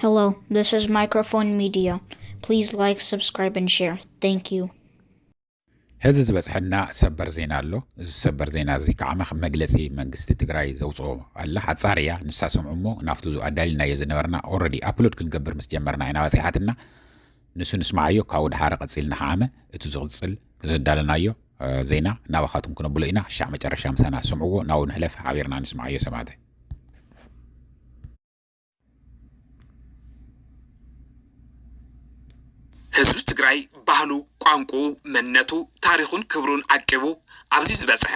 Hello, this is Microphone Media. Please like, subscribe, and share. Thank you. ሕዚ ዝበፅሐና ሰበር ዜና ኣሎ እዚ ሰበር ዜና እዚ ከዓ ከም መግለፂ መንግስቲ ትግራይ ዘውፅኦ ኣላ ሓፃር እያ ንሳ ሰምዑ እሞ ናብቲ ኣዳሊልናዮ ዝነበርና ኦረዲ ኣፕሎድ ክንገብር ምስ ጀመርና ኢና በፂሓትና ንሱ ንስማዓዮ ካብኡ ድሓረ ቀፂልና ከዓመ እቲ ዝቕፅል ዘዳለናዮ ዜና ናባኻትኩም ክነብሎ ኢና ሻዕ መጨረሻ ምሳና ስምዕዎ ናብኡ ንሕለፍ ሓቢርና ንስማዓዮ ሰማዕተይ ህዝቢ ትግራይ ባህሉ፣ ቋንቁኡ፣ መንነቱ፣ ታሪኹን ክብሩን ዓቂቡ ኣብዚ ዝበፅሐ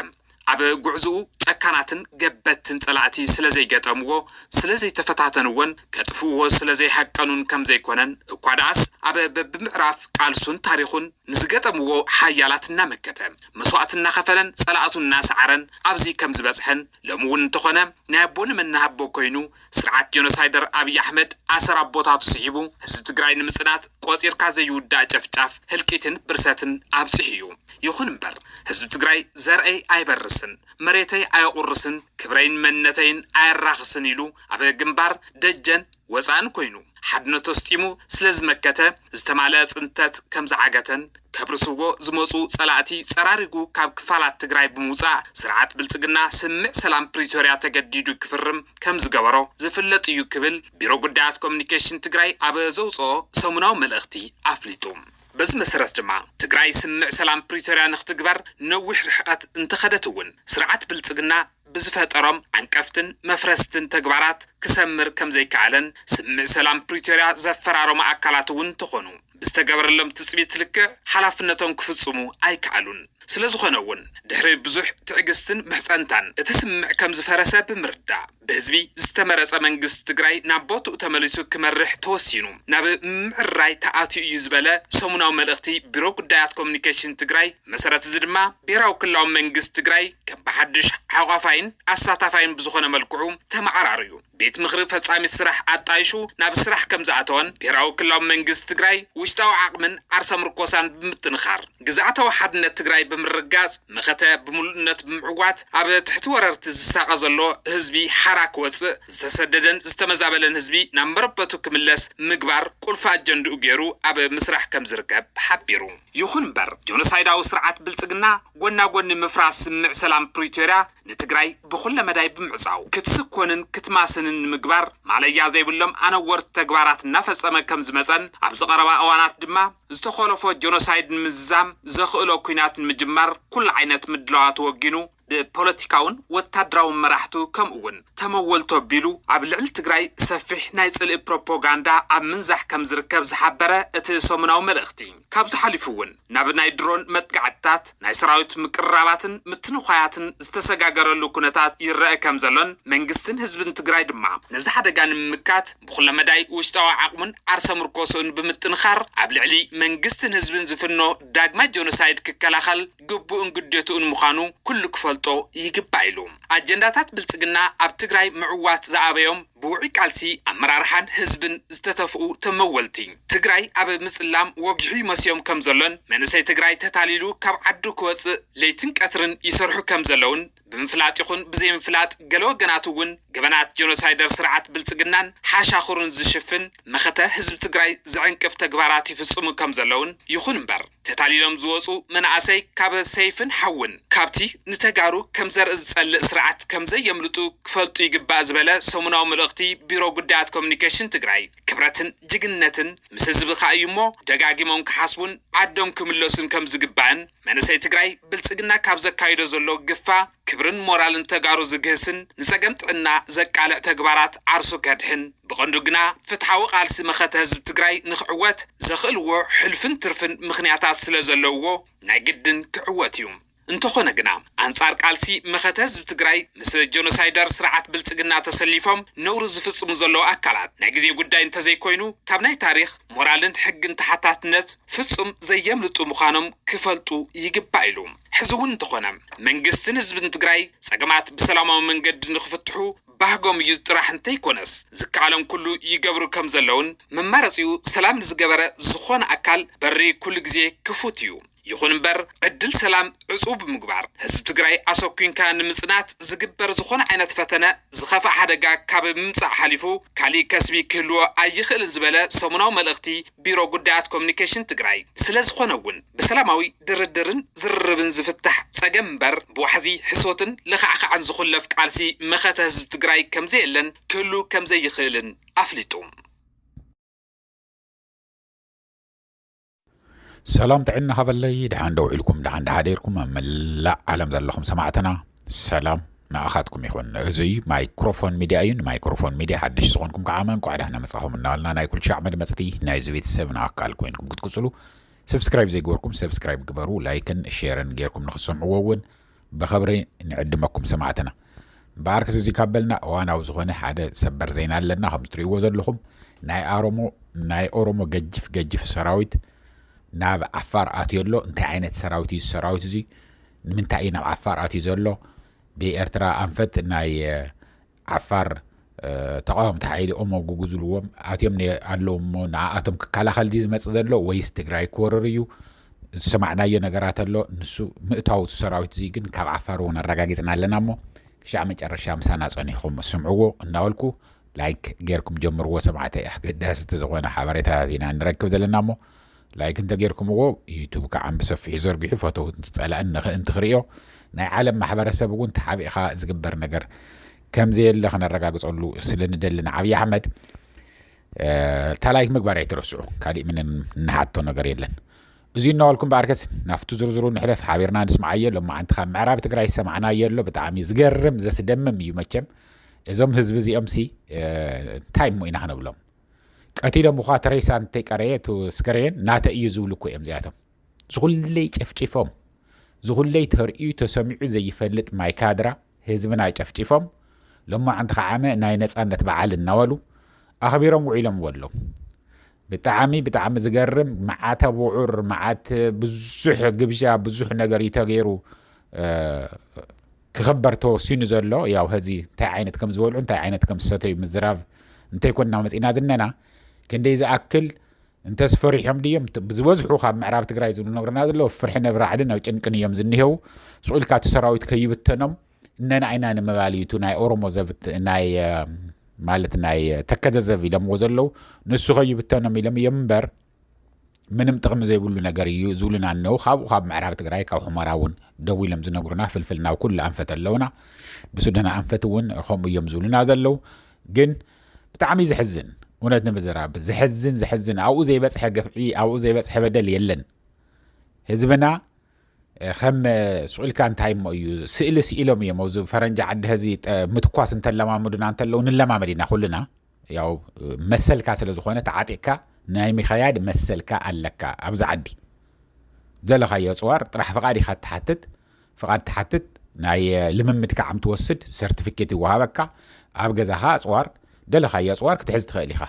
ኣብ ጉዕዝኡ ጨካናትን ገበትትን ፀላእቲ ስለዘይገጠምዎ ስለዘይተፈታተንዎን ከጥፍእዎ ስለዘይሃቀኑን ከምዘይኮነን እኳ ደኣስ ኣብ በብምዕራፍ ቃልሱን ታሪኹን ንዝገጠምዎ ሓያላት እናመከተ መስዋእቲ እናኸፈለን ፀላእቱ እናሰዓረን ኣብዚ ከምዝበፅሐን ሎሚ እውን እንተኾነ ናይ ኣቦ ንመናሃቦ ኮይኑ ስርዓት ጆኖሳይደር ኣብይ ኣሕመድ ኣሰር ኣቦታቱ ስሒቡ ህዝቢ ትግራይ ንምፅናት ቆፂርካ ዘይውዳእ ጨፍጫፍ ህልቂትን ብርሰትን ኣብፂሑ እዩ ይኹን እምበር ህዝቢ ትግራይ ዘርእይ ኣይበርስን መሬተይ ኣየቑርስን ክብረይን መንነተይን ኣየራኽስን ኢሉ ኣብ ግንባር ደጀን ወጻእን ኮይኑ ሓድነቱ ኣስጢሙ ስለ ዝመከተ ዝተማልኣ ጽንተት ከም ዝዓገተን ከብርስዎ ዝመጹ ጸላእቲ ጸራሪጉ ካብ ክፋላት ትግራይ ብምውጻእ ስርዓት ብልጽግና ስምምዕ ሰላም ፕሪቶርያ ተገዲዱ ክፍርም ከም ዝገበሮ ዝፍለጥ እዩ ክብል ቢሮ ጉዳያት ኮሙኒኬሽን ትግራይ ኣብ ዘውጽኦ ሰሙናዊ መልእኽቲ ኣፍሊጡ። በዚ መሰረት ድማ ትግራይ ስምምዕ ሰላም ፕሪቶርያ ንኽትግበር ነዊሕ ርሕቐት እንተኸደት እውን ስርዓት ብልጽግና ብዝፈጠሮም ዓንቀፍትን መፍረስትን ተግባራት ክሰምር ከምዘይከኣለን ስምምዕ ሰላም ፕሪቶርያ ዘፈራረሙ ኣካላት እውን እንተኾኑ ብዝተገበረሎም ትፅቢት ልክዕ ሓላፍነቶም ክፍፅሙ ኣይከኣሉን። ስለዝኾነ እውን ድሕሪ ብዙሕ ትዕግስትን ምሕፀንታን እቲ ስምምዕ ከምዝፈረሰ ብምርዳእ ብህዝቢ ዝተመረፀ መንግስቲ ትግራይ ናብ ቦትኡ ተመሊሱ ክመርሕ ተወሲኑ ናብ ምምዕርራይ ተኣትዩ እዩ ዝበለ ሰሙናዊ መልእኽቲ ቢሮ ጉዳያት ኮሙኒኬሽን ትግራይ ብመሰረት እዚ ድማ ብሄራዊ ክልላዊ መንግስቲ ትግራይ ከም ብሓዱሽ ሓቋፋይን ኣሳታፋይን ብዝኾነ መልክዑ ተመዓራርዩ ቤት ምኽሪ ፈፃሚት ስራሕ ኣጣይሹ ናብ ስራሕ ከም ዝኣተወን ብሄራዊ ክልላዊ መንግስቲ ትግራይ ውሽጣዊ ዓቕምን ዓርሰ ምርኮሳን ብምጥንኻር ግዝኣታዊ ሓድነት ትግራይ ብምርግጋፅ መኸተ ብምሉእነት ብምዕዋት ኣብ ትሕቲ ወረርቲ ዝሳቐ ዘሎ ህዝቢ ሓራ ክወፅእ ዝተሰደደን ዝተመዛበለን ህዝቢ ናብ መረበቱ ክምለስ ምግባር ቁልፊ ኣጀንድኡ ገይሩ ኣብ ምስራሕ ከም ዝርከብ ሓቢሩ። ይኹን እምበር ጆኖሳይዳዊ ስርዓት ብልፅግና ጎና ጎኒ ምፍራስ ስምምዕ ሰላም ፕሪቶርያ ንትግራይ ብኹለ መዳይ ብምዕፃው ክትስኮንን ክትማስንን ንምግባር ማለያ ዘይብሎም ኣነወርቲ ተግባራት እናፈፀመ ከምዝመፀን ኣብዚ ቀረባ እዋናት ድማ ዝተኾለፎ ጆኖሳይድ ንምዝዛም ዘኽእሎ ኲናት ንምጅማር ኩሉ ዓይነት ምድላዋት ወጊኑ ብፖለቲካውን ወታደራውን መራሕቱ ከምኡ'ውን ተመወልቱ ኣቢሉ ኣብ ልዕሊ ትግራይ ሰፊሕ ናይ ጽልኢ ፕሮፖጋንዳ ኣብ ምንዛሕ ከም ዝርከብ ዝሓበረ እቲ ሰሙናዊ መልእኽቲ፣ ካብዚ ሓሊፉ'ውን ናብ ናይ ድሮን መጥቃዕትታት፣ ናይ ሰራዊት ምቅርራባትን ምትንዃያትን ዝተሰጋገረሉ ኩነታት ይረኣ ከም ዘሎን መንግስትን ህዝብን ትግራይ ድማ፣ ነዚ ሓደጋ ንምምካት ብኩለመዳይ ውሽጣዊ ዓቕሙን ዓርሰ ምርኮስኡን ብምጥንኻር ኣብ ልዕሊ መንግስትን ህዝብን ዝፍኖ ዳግማይ ጆኖሳይድ ክከላኸል፣ ግቡእን ግዴትኡን ምዃኑ ኩሉ ክፈልጦ ይግባእ ኢሉ። ኣጀንዳታት ብልፅግና ኣብ ትግራይ ምዕዋት ዝኣበዮም ብውዑይ ቃልሲ ኣመራርሓን ህዝብን ዝተተፍኡ ተመወልቲ ትግራይ ኣብ ምፅላም ወጊሑ ይመስዮም ከምዘሎን መንእሰይ ትግራይ ተታሊሉ ካብ ዓዱ ክወፅእ ለይትን ቀትርን ይሰርሑ ከምዘለውን ብምፍላጥ ይኹን ብዘይምፍላጥ ገለ ወገናት እውን ገበናት ጀኖሳይደር ስርዓት ብልፅግናን ሓሻኽሩን ዝሽፍን መኸተ ህዝቢ ትግራይ ዝዕንቅፍ ተግባራት ይፍፅሙ ከም ዘለውን ይኹን እምበር ተታሊሎም ዝወፁ መናእሰይ ካብ ሰይፍን ሓውን ካብቲ ንተጋሩ ከም ዘርኢ ዝፀልእ ስርዓት ከም ዘየምልጡ ክፈልጡ ይግባእ ዝበለ ሰሙናዊ መልእኽቲ ቢሮ ጉዳያት ኮሙኒኬሽን ትግራይ ክብረትን ጅግንነትን ምስ ህዝብኻ እዩ እሞ ደጋጊሞም ክሓስቡን ዓዶም ክምለሱን ከም ዝግባእን መንእሰይ ትግራይ ብልፅግና ካብ ዘካይዶ ዘሎ ግፋ ክብርን ሞራልን ተጋሩ ዝግህስን ንፀገም ጥዕና ዘቃልዕ ተግባራት ዓርሱ ከድሕን ብቐንዱ ግና ፍትሓዊ ቓልሲ መኸተ ህዝቢ ትግራይ ንክዕወት ዘኽእልዎ ሕልፍን ትርፍን ምኽንያታት ስለዘለውዎ ናይ ግድን ክዕወት እዩ። እንተኾነ ግና። ኣንጻር ቃልሲ መኸተ ህዝቢ ትግራይ ምስ ጀኖሳይደር ስርዓት ብልጽግና ተሰሊፎም ነውሪ ዝፍጽሙ ዘለዉ ኣካላት ናይ ግዜ ጉዳይ እንተዘይኮይኑ ካብ ናይ ታሪኽ፣ ሞራልን ሕግን ተሓታትነት ፍጹም ዘየምልጡ ምዃኖም ክፈልጡ ይግባእ ኢሉ። ሕዚ እውን እንተኾነ መንግስትን ህዝብን ትግራይ ጸገማት ብሰላማዊ መንገዲ ንክፍትሑ ባህጎም እዩ ጥራሕ እንተይኮነስ ዝከኣሎም ኩሉ ይገብሩ ከምዘለውን መማረጺኡ ሰላም ንዝገበረ ዝኾነ ኣካል በሪ ኩሉ ግዜ ክፉት እዩ ይኹን እምበር ዕድል ሰላም ዕፁው ብምግባር ህዝቢ ትግራይ ኣሰኲንካ ንምፅናት ዝግበር ዝኾነ ዓይነት ፈተነ ዝኸፍኣ ሓደጋ ካብ ምምፃእ ሓሊፉ ካሊእ ከስቢ ክህልዎ ኣይኽእልን ዝበለ ሰሙናዊ መልእኽቲ ቢሮ ጉዳያት ኮሙኒኬሽን ትግራይ ስለዝኾነ እውን ብሰላማዊ ድርድርን ዝርርብን ዝፍታሕ ፀገም እምበር ብዋሕዚ ሕሶትን ለኻዕኻዕን ዝኹለፍ ቃልሲ መኸተ ህዝቢ ትግራይ ከምዘየለን ክህሉ ከምዘይኽእልን ኣፍሊጡ። ሰላም ጥዕና ሃበለይ ድሓን ዶ ውዒልኩም ድሓን ድሓደርኩም ኣብ መላእ ዓለም ዘለኹም ሰማዕትና ሰላም ንኣኻትኩም ይኹን እዙይ ማይክሮፎን ሚድያ እዩ ንማይክሮፎን ሚድያ ሓድሽ ዝኾንኩም ከዓ መንቋዕ ዳሕና መፃኹም እናበልና ናይ ኩልሻዕ መድመፅቲ ናይዚ ቤተሰብ ንኣካል ኮይንኩም ክትቅፅሉ ሰብስክራይብ ዘይገበርኩም ሰብስክራይብ ግበሩ ላይክን ሼርን ጌርኩም ንክትሰምዕዎ እውን ብኸብሪ ንዕድመኩም ሰማዕትና። በኣርክስ እዚ ካብ በልና እዋናዊ ዝኾነ ሓደ ሰበር ዜና ኣለና ከም ትርእይዎ ዘለኹም ናይ ኣሮሞ ናይ ኦሮሞ ገጅፍ ገጅፍ ሰራዊት ናብ ዓፋር ኣትዮ ኣሎ እንታይ ዓይነት ሰራዊት እዩ ሰራዊት እዚ ንምንታይ እዩ ናብ ዓፋር ኣትዩ ዘሎ ብኤርትራ ኣንፈት ናይ ዓፋር ተቓወምቲ ሓይሊ ኦሞ ጉጉ ዝብልዎም ኣትዮም ነ- ኣለዉ እሞ ንኣኣቶም ክከላኸል ድዩ ዝመጽእ ዘሎ ወይስ ትግራይ ክወርር እዩ ዝሰማዕናዮ ነገራት ኣሎ ንሱ ምእታው እቲ ሰራዊት እዙይ ግን ካብ ዓፋር እውን ኣረጋጊጽና ኣለና እሞ ክሻዕ መጨረሻ ምሳና ጸኒሕኩም ስምዕዎ እናበልኩ ላይክ ጌርኩም ጀምርዎ ሰማዕተይ ኣገዳሲ እቲ ዝኾነ ሓበሬታታት ኢና ንረክብ ዘለና እሞ ላይክ እንተ ጌርኩምዎ ዩቱብ ከዓም ብሰፊሑ ዘርጊሑ ፈተውትን ጸላእን ንክእንቲ ክርእዮ ናይ ዓለም ማሕበረ ሰብ እውን ተሓቢእኻ ዝግበር ነገር ከምዘየለ ክነረጋግጸሉ ስለ ንደሊ ንዓብዪ ኣሕመድ እታ ላይክ ምግባር ኣይትረስዑ ካሊእ ምን ንሓቶ ነገር የለን እዚ እናበልኩም በኣርከስ ናብቲ ዝርዝሩ ንሕለፍ ሓቢርና ንስምዓዮ ሎማዓንቲ ካብ ምዕራብ ትግራይ ዝሰማዕናዮ ኣሎ ብጣዕሚ ዝገርም ዘስደምም እዩ መቸም እዞም ህዝቢ እዚኦም ሲ እንታይ እሞ ኢና ክንብሎም ቀቲሎም እኳ ተሬሳ እንተይቀረየ እቱ ስከሬን ናተ እዩ ዝብሉ እኮ እዮም እዚኣቶም ዝኹለይ ጨፍጪፎም ዝኹለይ ተርእዩ ተሰሚዑ ዘይፈልጥ ማይ ካድራ ህዝብና ጨፍጪፎም ሎማዓንቲ ከዓመ ናይ ነፃነት በዓል እናበሉ ኣኽቢሮም ውዒሎምዎ ኣለዉ ብጣዕሚ ብጣዕሚ ዝገርም መዓተ ውዑር መዓት ብዙሕ ግብዣ ብዙሕ ነገር እዩ ተገይሩ ክኸበር ተወሲኑ ዘሎ ያው ሀዚ እንታይ ዓይነት ከም ዝበልዑ እንታይ ዓይነት ከም ዝሰተዩ ምዝራብ እንተይኮንና መፅእና ዝነና ክንደይ ዝኣክል እንተስ ፈሪሖም ድዮም ብዝበዝሑ ካብ ምዕራብ ትግራይ ዝብሉ ነግረና ዘለዎ ፍርሒ ነብራዕድን ኣብ ጭንቅን እዮም ዝኒሄው ስቁኢልካ እቲ ሰራዊት ከይብተኖም እነና ኢና ንምባል እዩ ናይ ኦሮሞ ዘብት ናይ ማለት ናይ ተከዘዘብ ኢሎምዎ ዘለው ንሱ ከይብተኖም ኢሎም እዮም እምበር ምንም ጥቕሚ ዘይብሉ ነገር እዩ ዝብሉና እነው ካብኡ ካብ ምዕራብ ትግራይ ካብ ሑመራ እውን ደው ኢሎም ዝነግሩና ፍልፍል ናብ ኩሉ ኣንፈት ኣለውና ብሱዳን ኣንፈት እውን ከምኡ እዮም ዝብሉና ዘለው ግን ብጣዕሚ ዘሕዝን እውነት ንምዝራብ ዘሕዝን ዘሕዝን ኣብኡ ዘይበፅሐ ግፍዒ ኣብኡ ዘይበፅሐ በደል የለን ህዝብና ከም ስቁኢልካ እንታይ እሞ እዩ ስእሊ ስኢሎም እዮም ኣብዚ ፈረንጂ ዓዲ ህዚ ምትኳስ እንተለማምዱና እንተለዉ ንለማመድ ኢና ኩልና ያው መሰልካ ስለ ዝኾነ ተዓጢቕካ ናይ ምኸያድ መሰልካ ኣለካ ኣብዚ ዓዲ ዘለኻዮ ኣጽዋር ጥራሕ ፍቓድ ኢኻ ትሓትት ፍቓድ ትሓትት ናይ ልምምድ ከዓም ትወስድ ሰርቲፊኬት ይወሃበካ ኣብ ገዛኻ ኣጽዋር ደለኻዮ ኣጽዋር ክትሕዝ ትኽእል ኢኻ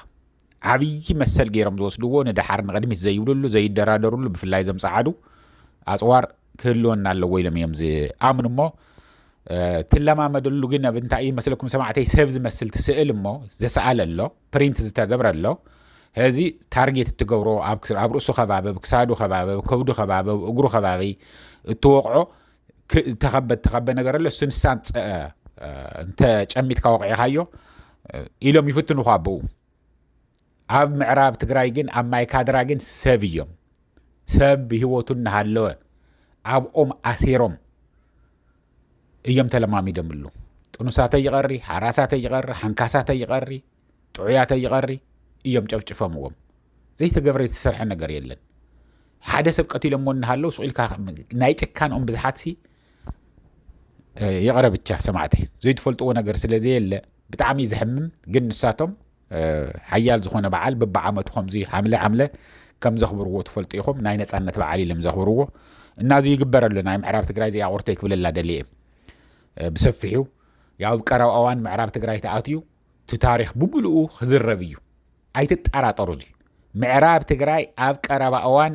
ዓብዪ መሰል ገይሮም ዝወስድዎ ንደሓር ንቕድሚት ዘይብልሉ ዘይደራደርሉ ብፍላይ ዘምፀዓዱ ኣጽዋር ክህልወና ኣለዎ ኢሎም እዮም ዝኣምኑ እሞ ትለማመደሉ ግን ኣብ እንታይ እዩ መስለኩም ሰማዕተይ ሰብ ዝመስል ትስእል እሞ ዘሰኣለ ኣሎ ፕሪንት ዝተገብረ ኣሎ እዚ ታርጌት እትገብሮ ኣብ ርእሱ ከባቢ ክሳዱ ከባቢ ከብዱ ከባቢ እግሩ ከባቢ እትወቕዖ ተኸበ ተኸበ ነገር ኣሎ እሱ ንሳ እንተጨሚትካ ወቕዒኻዮ ኢሎም ይፍትኑኻ ኣብኡ ኣብ ምዕራብ ትግራይ ግን ኣብ ማይ ካድራ ግን ሰብ እዮም ሰብ ብሂወቱ እናሃለወ ኣብኦም ኣሲሮም እዮም ተለማሚዶምሉ ጥኑሳተ ይቐሪ ሓራሳተ ይቐሪ ሓንካሳተ ይቐሪ ጥዑያተ ይቐሪ እዮም ጨፍጭፈምዎም ዘይተገብረ ዝተሰርሐ ነገር የለን ሓደ ሰብ ቀቲሎሞ እናሃለው ስኢልካ ናይ ጭካንኦም ብዝሓትሲ ይቕረ ብቻ ሰማዕተይ ዘይትፈልጥዎ ነገር ስለዘየለ ብጣዕሚ ዘሕምም ግን ንሳቶም ሓያል ዝኾነ በዓል ብብዓመቱ ከምዚ ሓምለ ሓምለ ከም ዘኽብርዎ ትፈልጡ ኢኹም ናይ ነፃነት በዓል ኢሎም ዘኽብርዎ እና እዚ ይግበር ኣሎ ናይ ምዕራብ ትግራይ እዚኣ ቁርተይ ክብለላ ደልየ ብሰፊሑ ያው ኣብ ቀረባ እዋን ምዕራብ ትግራይ ተኣትዩ እቲ ታሪክ ብምልኡ ክዝረብ እዩ ኣይትጠራጠሩ እዚ ምዕራብ ትግራይ ኣብ ቀረባ እዋን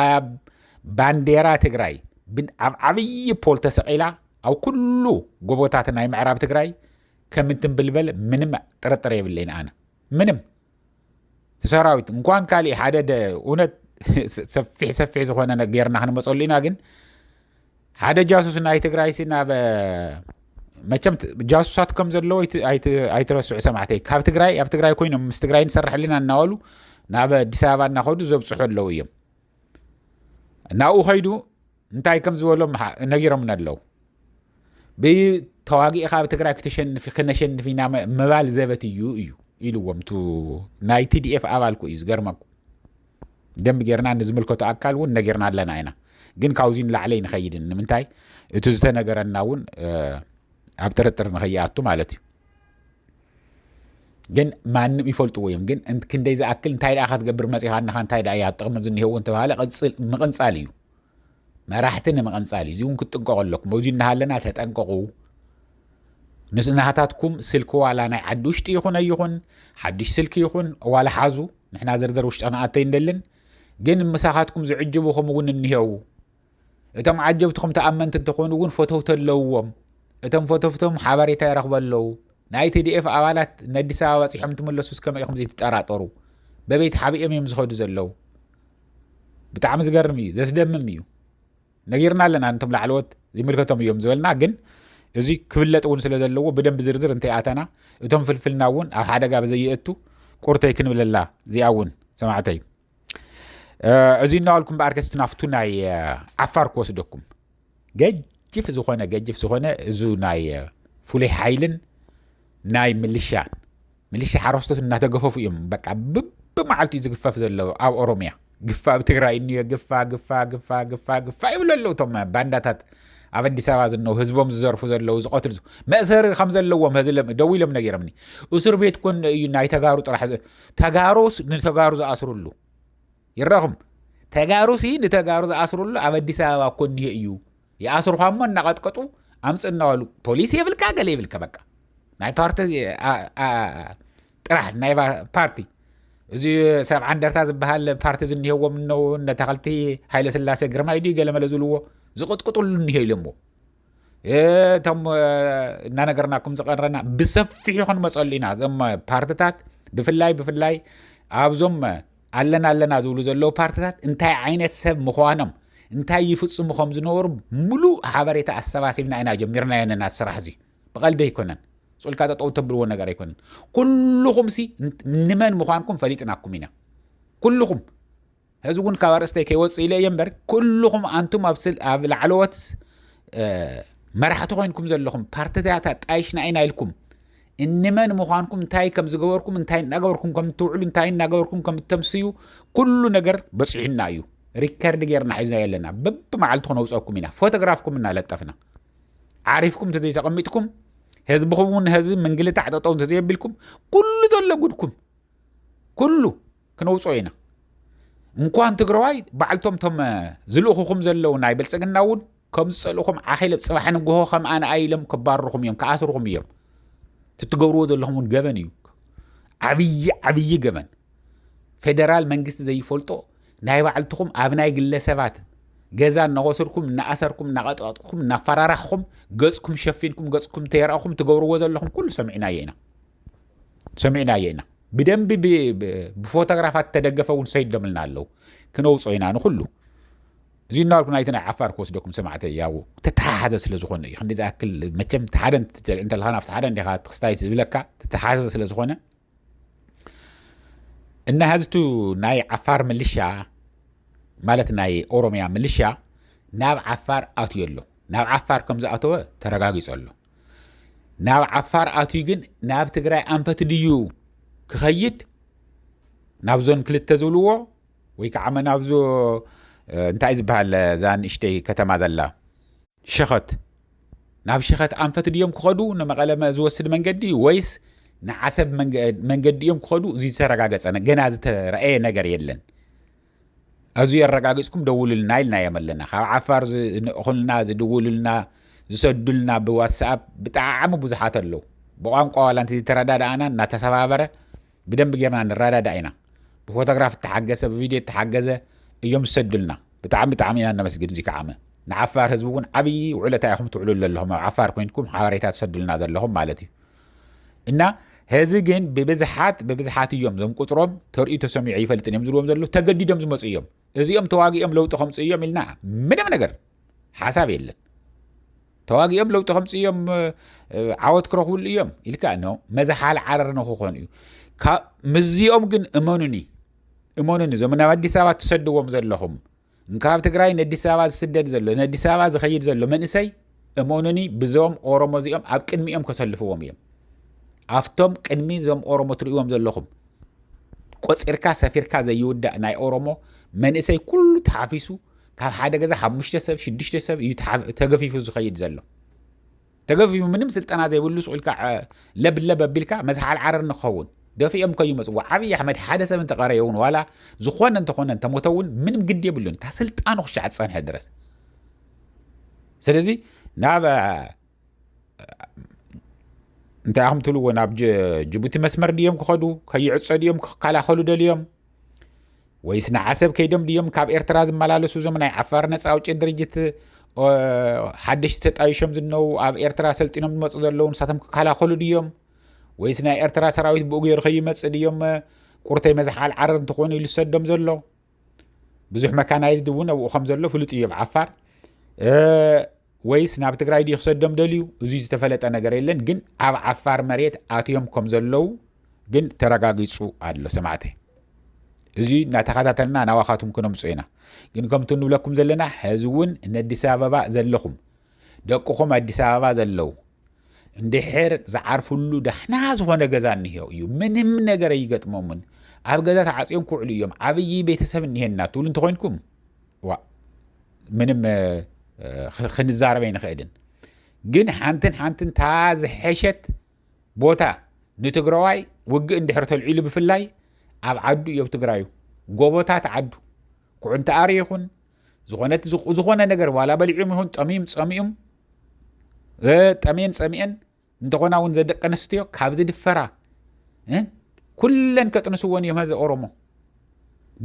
ኣብ ባንዴራ ትግራይ ኣብ ዓብዪ ፖል ተሰቂላ ኣብ ኩሉ ጎቦታት ናይ ምዕራብ ትግራይ ከም እትንብልበል ምንም ጥርጥር የብለይን ኣነ ምንም ሰራዊት እንኳን ካሊእ ሓደ እውነት ሰፊሕ ሰፊሕ ዝኾነ ጌርና ክንመፀሉ ኢና ግን ሓደ ጃሱስ ናይ ትግራይ ሲ ናብ መቸም ጃሱሳት ከም ዘለዎ ኣይትረስዑ ሰማዕተይ ካብ ትግራይ ኣብ ትግራይ ኮይኖም ምስ ትግራይ ንሰርሕ ኣለና እናበሉ ናብ ኣዲስ ኣበባ እናኸዱ ዘብፅሑ ኣለዉ እዮም ናብኡ ከይዱ እንታይ ከም ዝበሎም ነጊሮምና ኣለዉ ብተዋጊእኻ ኣብ ትግራይ ክተሸንፊ ክነሸንፍ ኢና ምባል ዘበት እዩ እዩ ኢልዎም ቱ ናይ ቲዲኤፍ ኣባልኩ እዩ ዝገርመኩ ደንብ ጌርና ንዝምልከቱ ኣካል እውን ነጊርና ኣለና ኢና ግን ካብዚ ንላዕለ ንኸይድን ንምንታይ እቲ ዝተነገረና እውን ኣብ ጥርጥር ንኸይኣቱ ማለት እዩ ግን ማንም ይፈልጥዎ እዮም ግን ክንደይ ዝኣክል እንታይ ደኣ ክትገብር መፂኻ ንኻ እንታይ ደኣ እያ ጥቕሚ ዝኒሄዎ እንተባሃለ ምቕንፃል እዩ መራሕቲ ንምቕንፃል እዩ እዚ እውን ክትጥንቀቑ ኣለኩም ኣብዚ እናሃለና ተጠንቀቑ ምስ ናሃታትኩም ስልኪ ዋላ ናይ ዓዲ ውሽጢ ይኹን ኣይኹን ሓድሽ ስልኪ ይኹን ዋላ ሓዙ ንሕና ዝርዝር ውሽጢ ክንኣተይ እንደልን ግን ምሳኻትኩም ዝዕጅቡኹም እውን እኒሄው እቶም ዓጀብትኹም ተኣመንቲ እንተኾኑ እውን ፈተውቲ ኣለውዎም እቶም ፈተፍቶም ሓበሬታ ይረኽበ ኣለዉ ናይ ቲዲኤፍ ኣባላት ንኣዲስ ኣበባ በፂሖም ትመለሱ እስከመ ኢኹም ዘይትጠራጠሩ በበይቲ ሓቢኦም እዮም ዝኸዱ ዘለዉ ብጣዕሚ ዝገርም እዩ ዘስደምም እዩ ነጊርና ኣለና ነቶም ላዕለዎት ዝምልከቶም እዮም ዝበልና ግን እዚ ክፍለጥ እውን ስለ ዘለዎ ብደንብ ዝርዝር እንታይ ኣተና እቶም ፍልፍልና እውን ኣብ ሓደጋ ብዘየእቱ ቁርተይ ክንብለላ እዚኣ እውን ሰማዕተይ እዚ እናበልኩ እምበኣር ከስቲ ናብቱ ናይ ዓፋር ክወስደኩም ገጅፍ ዝኾነ ገጅፍ ዝኾነ እዚ ናይ ፍሉይ ሓይልን ናይ ምልሻን ምልሻ ሓረስቶት እናተገፈፉ እዮም በቃ ብመዓልቲ እዩ ዝግፈፍ ዘሎ ኣብ ኦሮምያ ግፋ ኣብ ትግራይ እኒዮ ግፋ ግፋ ግፋ ግፋ ግፋ ይብሉ ኣለዉ እቶም ባንዳታት ኣብ ኣዲስ ኣበባ ዝነው ህዝቦም ዝዘርፉ ዘለዉ ዝቐትሉ መእሰሪ ከም ዘለዎም ደው ኢሎም ነጊሮምኒ እስር ቤት ኮን እዩ ናይ ተጋሩ ጥራሕ ተጋሩስ ንተጋሩ ዝኣስርሉ ይረኹም ተጋሩ ሲ ንተጋሩ ዝኣስርሉ ኣብ ኣዲስ ኣበባ እኮ እኒሄ እዩ ይኣስርኳ እሞ እናቐጥቀጡ ኣምፅ እናበሉ ፖሊስ የብልካ ገለ የብልካ በቃ ናይ ፓርቲ ጥራሕ ናይ ፓርቲ እዚ ሰብ ዓንደርታ ዝበሃል ፓርቲ ዝኒሄዎም እነው እነተኸልቲ ሃይለ ስላሴ ግርማይ ድዩ ገለመለ ዝብልዎ ዝቕጥቅጥሉ እኒሄ ኢሎሞ እቶም እናነገርናኩም ዝቐረና ብሰፊሑ ክንመፀሉ ኢና እዞም ፓርትታት ብፍላይ ብፍላይ ኣብዞም ኣለና ኣለና ዝብሉ ዘለዉ ፓርትታት እንታይ ዓይነት ሰብ ምዃኖም እንታይ ይፍፅሙ ከም ዝነበሩ ሙሉእ ሓበሬታ ኣሰባሲብና ኢና ጀሚርና የነና ስራሕ እዚ ብቐልዲ ኣይኮነን ፁልካ ጠጠው ተብልዎ ነገር ኣይኮነን ኩልኹም ሲ ንመን ምዃንኩም ፈሊጥናኩም ኢና ኩልኹም ሕዚ እውን ካብ ኣርእስተይ ከይወፅእ ኢለ እየ እምበር ኩልኹም ኣንቱም ኣብ ላዕለዎት መራሕቲ ኮይንኩም ዘለኹም ፓርትታት ኣጣይሽና ኢና ኢልኩም እንመን ምዃንኩም እንታይ ከም ዝገበርኩም እንታይ እናገበርኩም ከም እትውዕሉ እንታይ እናገበርኩም ከም እተምስዩ ኩሉ ነገር በፂሑና እዩ ሪከርድ ጌርና ሒዝናዮ ኣለና በብመዓልቲ ክነውፀኩም ኢና ፎቶግራፍኩም እናለጠፍና ዓሪፍኩም እንተዘይተቐሚጥኩም ህዝብኹም እውን ህዝቢ ምንግልታዕ ጠጠው እንተዘየቢልኩም ኩሉ ዘሎ ጉድኩም ኩሉ ክነውፅኦ ኢና እንኳን ትግራዋይ ባዕልቶም ቶም ዝልእኹኹም ዘለዉ ናይ ብልፅግና እውን ከም ዝፀልእኹም ዓኺለ ፅባሕ ንግሆ ከም ኣነ ኣይሎም ክባርኹም እዮም ክኣስርኹም እዮም ትትገብርዎ ዘለኹም እውን ገበን እዩ ዓብዪ ዓብዪ ገበን ፌደራል መንግስቲ ዘይፈልጦ ናይ ባዕልትኹም ኣብ ናይ ግለሰባት ገዛ እናወሰድኩም እናኣሰርኩም እናቐጥቐጥኩም እናፈራራሕኹም ገፅኩም ሸፊንኩም ገፅኩም ተየርኣኹም ትገብርዎ ዘለኹም ኩሉ ሰሚዕናዮ ኢና ሰሚዕናዮ ኢና ብደንቢ ብፎቶግራፋት ተደገፈ እውን ሰይዶምልና ኣለው ክነውፆ ኢና ንኩሉ እዚ እናበልኩ ናይቲ ናይ ዓፋር ክወስደኩም ሰማዕተ ያው ተተሓሓዘ ስለ ዝኾነ እዩ ክንዲ ዝኣክል መቸም ሓደ ትጨልዕ እንተለካ ናብቲ ሓደ እንዲኻ ክስታይት ዝብለካ ተተሓሓዘ ስለ ዝኾነ እና ህዝቱ ናይ ዓፋር ምልሻ ማለት ናይ ኦሮሚያ ምልሻ ናብ ዓፋር ኣትዮ ኣሎ ናብ ዓፋር ከም ዝኣተወ ተረጋጊፆ ኣሎ ናብ ዓፋር ኣትዩ ግን ናብ ትግራይ ኣንፈት ድዩ ክኸይድ ናብዞን ክልተ ዝብልዎ ወይ ከዓ ናብዞ እንታይ ዝበሃል እዛ ንእሽተይ ከተማ ዘላ ሸኸት ናብ ሸኸት ኣንፈት ድዮም ክኸዱ ንመቐለ ዝወስድ መንገዲ ወይስ ንዓሰብ መንገዲ እዮም ክኸዱ እዚ ዝተረጋገፀ ገና ዝተረኣየ ነገር የለን ኣዙይ ኣረጋግፅኩም ደውሉልና ኢልናዮም ኣለና ካብ ዓፋር ዝንእኹልና ዝድውሉልና ዝሰዱልና ብዋትስኣፕ ብጣዕሚ ብዙሓት ኣለዉ ብቋንቋ ዋላ እንተ ዝተረዳድኣና እናተሰባበረ ብደንብ ጌርና ንረዳዳእ ኢና ብፎቶግራፍ እተሓገሰ ብቪድዮ እተሓገዘ እዮም ዝሰዱልና ብጣዕሚ ብጣዕሚ ኢና ነመስግን እዚ ከዓመ ንዓፋር ህዝቢ እውን ዓብዪ ውዕለታ ኢኹም ትውዕሉ ዘለኹም ኣብ ዓፋር ኮይንኩም ሓበሬታ ትሰዱልና ዘለኹም ማለት እዩ እና ሀዚ ግን ብብዝሓት ብብዝሓት እዮም ዞም ቁፅሮም ተርእዩ ተሰሚዑ ኣይፈልጥን እዮም ዝብልዎም ዘለዉ ተገዲዶም ዝመፁ እዮም እዚኦም ተዋጊኦም ለውጢ ከምፅኡ እዮም ኢልና ምንም ነገር ሓሳብ የለን ተዋጊኦም ለውጢ ከምፅ እዮም ዓወት ክረኽብሉ እዮም ኢልካ ኖ መዝሓል ዓረር ንክኾኑ እዩ ምዚኦም ግን እመኑኒ እመኑኒ እዞም ናብ ኣዲስ ኣበባ ትሰድዎም ዘለኹም እንካብ ትግራይ ነዲስ ኣበባ ዝስደድ ዘሎ ነዲስ ኣበባ ዝኸይድ ዘሎ መንእሰይ እመኑኒ ብዞም ኦሮሞ እዚኦም ኣብ ቅድሚኦም ከሰልፍዎም እዮም ኣብቶም ቅድሚ እዞም ኦሮሞ ትርእዎም ዘለኹም ቆፂርካ ሰፊርካ ዘይውዳእ ናይ ኦሮሞ መንእሰይ ኩሉ ተሓፊሱ ካብ ሓደ ገዛ ሓሙሽተ ሰብ ሽዱሽተ ሰብ እዩ ተገፊፉ ዝኸይድ ዘሎ ተገፊፉ ምንም ስልጠና ዘይብሉ ሱቕ ኢልካ ለብለብ ኣቢልካ መዝሓል ዓረር ንክኸውን ደፊኦም እኮ ይመፅዎ ዓብዪ ኣሕመድ ሓደ ሰብ እንተቐረየ እውን ዋላ ዝኾነ እንተኾነ እንተሞተ እውን ምንም ግዲ የብሉን ካብ ስልጣኑ ክሻዕ ዝፀንሐ ድረስ ስለዚ ናብ እንታይ ኣኹም ትብልዎ ናብ ጅቡቲ መስመር ድዮም ክኸዱ ከይዕፀ ድዮም ክከላኸሉ ደልዮም ወይስ ንዓሰብ ከይዶም ድዮም ካብ ኤርትራ ዝመላለሱ እዞም ናይ ዓፋር ነጻ ኣውጪ ድርጅት ሓደሽቲ ተጣይሾም ዝነው ኣብ ኤርትራ ሰልጢኖም ዝመፁ ዘለዉ ንሳቶም ክከላኸሉ ድዮም ወይስ ናይ ኤርትራ ሰራዊት ብኡ ገይሩ ከይመፅእ ድዮም ቁርተይ መዝሓል ዓረር እንትኾኑ ኢሉ ዝሰዶም ዘሎ ብዙሕ መካናይዝድ እውን ኣብኡ ከም ዘሎ ፍሉጥ እዩ ኣብ ዓፋር ወይስ ናብ ትግራይ ድዩ ክሰዶም ደልዩ እዙይ ዝተፈለጠ ነገር የለን ግን ኣብ ዓፋር መሬት ኣትዮም ከም ዘለው ግን ተረጋጊፁ ኣሎ ሰማዕተ እዚ እናተኸታተልና ናባኻትኩም ክነምፁ ኢና ግን ከምቲ ንብለኩም ዘለና ሕዚ እውን ንኣዲስ ኣበባ ዘለኹም ደቅኹም ኣዲስ ኣበባ ዘለው እንድሕር ዝዓርፍሉ ዳሕና ዝኾነ ገዛ እንሄ እዩ ምንም ነገር ኣይገጥሞምን ኣብ ገዛ ተዓፅዮም ክውዕሉ እዮም ዓብዪ ቤተሰብ እኒሄና ትብሉ እንተኮይንኩም ዋእ ምንም ክንዛረብ ኣይንኽእልን ግን ሓንትን ሓንትን ታ ዝሐሸት ቦታ ንትግራዋይ ውግእ እንድሕር ተልዒሉ ብፍላይ ኣብ ዓዱ እዮብ ትግራዩ ጎቦታት ዓዱ ኩዕንተኣሪ ይኹን ዝኾነት ዝኾነ ነገር ዋላ በሊዑም ይኹን ጠሚም ፀሚኡም ጠሜን ፀሚኤን እንተኾና እውን ዘደቂ ኣንስትዮ ካብ ዝድፈራ ኩለን ከጥንስዎን እዮም ሀዚ ኦሮሞ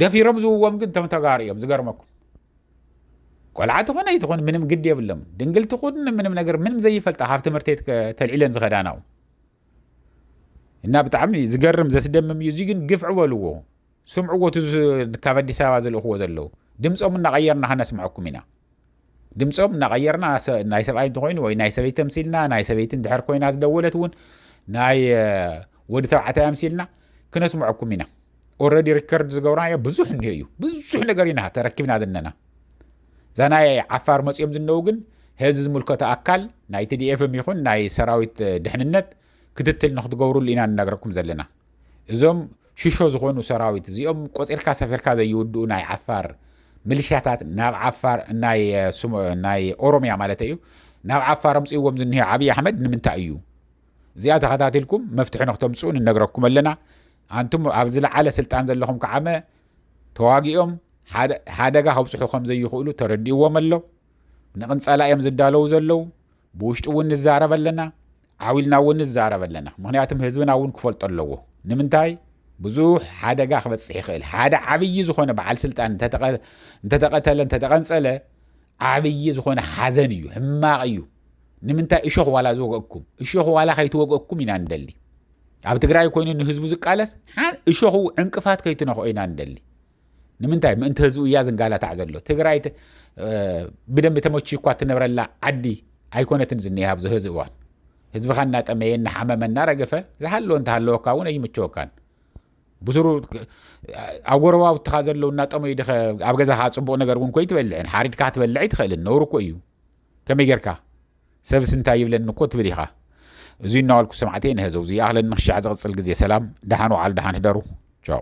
ደፊሮም ዝውዎም ግን እቶም ተጋሩ እዮም ዝገርመኩም ቆልዓ ትኾነ ይትኾን ምንም ግድ የብሎም ድንግል ትኹን ምንም ነገር ምንም ዘይፈልጣ ካብ ትምህርቲ ተልዒለን ዝኸዳናው እና ብጣዕሚ ዝገርም ዘስደምም እዩ እዚ ግን ግፍዒ በልዎ ስምዕዎ እቲ ካብ ኣዲስ ኣበባ ዝልእኽዎ ዘለዉ ድምፆም እናቐየርና ከነስምዐኩም ኢና ድምፆም እናቐየርና ናይ ሰብኣይ እንተኮይኑ ወይ ናይ ሰበይቲ ተምሲልና ናይ ሰበይቲ እንድሕር ኮይና ዝደወለት እውን ናይ ወዲ ተባዕታይ ኣምሲልና ክነስምዐኩም ኢና ኦረዲ ሪከርድ ዝገብርናዮ ብዙሕ እኒሆ እዩ ብዙሕ ነገር ኢና ተረኪብና ዘለና እዛ ናይ ዓፋር መፅኦም ዝነው ግን ህዚ ዝምልከቶ ኣካል ናይ ቲዲኤፍም ይኹን ናይ ሰራዊት ድሕንነት ክትትል ንክትገብሩሉ ኢና ንነግረኩም ዘለና እዞም ሽሾ ዝኾኑ ሰራዊት እዚኦም ቆጺርካ ሰፊርካ ዘይውድኡ ናይ ዓፋር ምልሻታት ናብ ዓፋር ናይ ኦሮምያ ማለት እዩ ናብ ዓፋር ኣምጽእዎም ዝኒሀ ዓብዪ ኣሕመድ ንምንታይ እዩ እዚኣ ተኸታቲልኩም መፍትሒ ንክተምጽኡ ንነግረኩም ኣለና ኣንቱም ኣብ ዝለዓለ ስልጣን ዘለኹም ከዓመ ተዋጊኦም ሓደጋ ከብፅሑ ከም ዘይኽእሉ ተረዲእዎም ኣሎ ንቕንፀላ እዮም ዝዳለዉ ዘለዉ ብውሽጢ እውን ንዛረብ ኣለና ዓው ኢልና እውን ንዛረብ ኣለና። ምኽንያቱም ህዝብና እውን ክፈልጦ ኣለዎ። ንምንታይ ብዙሕ ሓደጋ ክበፅሕ ይኽእል። ሓደ ዓብዪ ዝኾነ በዓል ስልጣን እንተተቐተለ እንተተቐንፀለ ዓብዪ ዝኾነ ሓዘን እዩ፣ ሕማቕ እዩ። ንምንታይ እሾኽ ዋላ ዝወግእኩም እሾኽ ዋላ ከይትወግእኩም ኢና ንደሊ። ኣብ ትግራይ ኮይኑ ንህዝቡ ዝቃለስ እሾኹ ዕንቅፋት ከይትነኽኦ ኢና ንደሊ። ንምንታይ ምእንቲ ህዝቡ እያ ዝንጋላታዕ ዘሎ ትግራይ ብደንቢ ተመችዩ እኳ እትነብረላ ዓዲ ኣይኮነትን ዝኒሃ ኣብዚ ህዚ እዋን ህዝብኻ እናጠመየ እናሓመመ እናረገፈ ዝሃለወ እንተሃለወካ እውን ኣይምቸወካን ብስሩ ኣብ ጎረባብትኻ ዘለዉ እናጠመዩ ድኸ ኣብ ገዛኻ ፅቡቕ ነገር እውን ኮይ ትበልዕን ሓሪድካ ክትበልዕ ኣይትኽእልን ነውሩ እኮ እዩ ከመይ ጌርካ ሰብስ እንታይ ይብለኒ እኮ ትብል ኢኻ እዙይ እናዋልኩ ሰማዕተይ ንሀዘው እዙይ ይኣኽለኒ ክሻዕ ዝቕፅል ግዜ ሰላም ደሓን ውዓሉ ደሓን ህደሩ ቻው